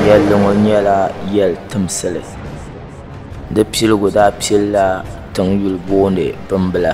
Yɛlli ŋɔ nyɛla yɛli timsili di piligu daa pilila tiŋ yuli booni bimbila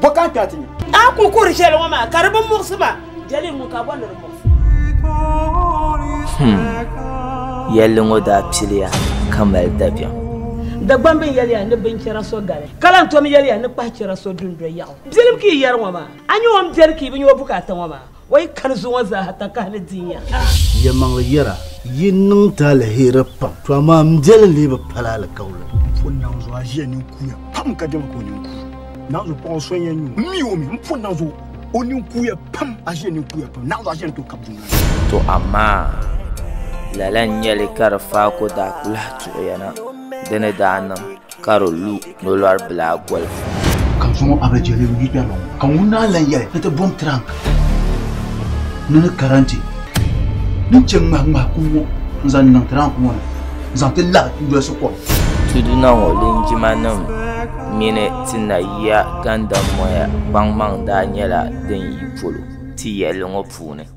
Bɔ ka ti ati nyam. A ku kuri shɛli ŋɔ maa ka di bi muɣisi ma, jɛli ŋun ka bɔ ni di muɣisi. Him, yɛlli ŋɔ daa piliya ka mali dabiɛm. Dagbam bini yɛli ya ni binchɛra so gali, ka lan tom yɛli ya ni kpahichɛra so dundoli yaɣu. Biɛlim ka yi yɛri ŋɔ maa, a nya o ni biɛri ka yi bi nya o bukaata ŋɔ maa. O yi kani zuŋɔ zaaha takahi ni di ya. Yɛlimaŋli yɛra, Yi niŋ ti aliheri pam, to amaa m biɛli lee bi pali alikauli. Pun naŋ zuɣu aʒiya nini kuuya pam ka dɛma ka o nini kuui. Naŋ zuɣu paɣa so n-yɛn nyu m mi o mi. M pun naŋ zuɣu o nini kuuya pam, aʒiya nini kuuya pam, naŋ zuɣu aʒiya ni tooi kabi dundoli ni. To amaa lala n-nyɛli ka di faako daa kuli lahi tuɣiya na, di ni daa niŋ. ka di lu nolɔri bila golifu. Ka zuŋɔ a bi jeli n yi kpɛriba ŋɔ, ka ŋun naan lan yɛli ni ti bom tirank ni ni karanti ni che ŋmahi ŋmahi kum ŋɔ n zaŋ niŋ tirank ŋɔ ni n zaŋ ti labi n dolsi kom. Tuduna ŋɔ linjimanim mini ti nayiya gandamoya kpaŋmaŋ daa nyɛla din yi polo ti yɛlli ŋɔ puuni.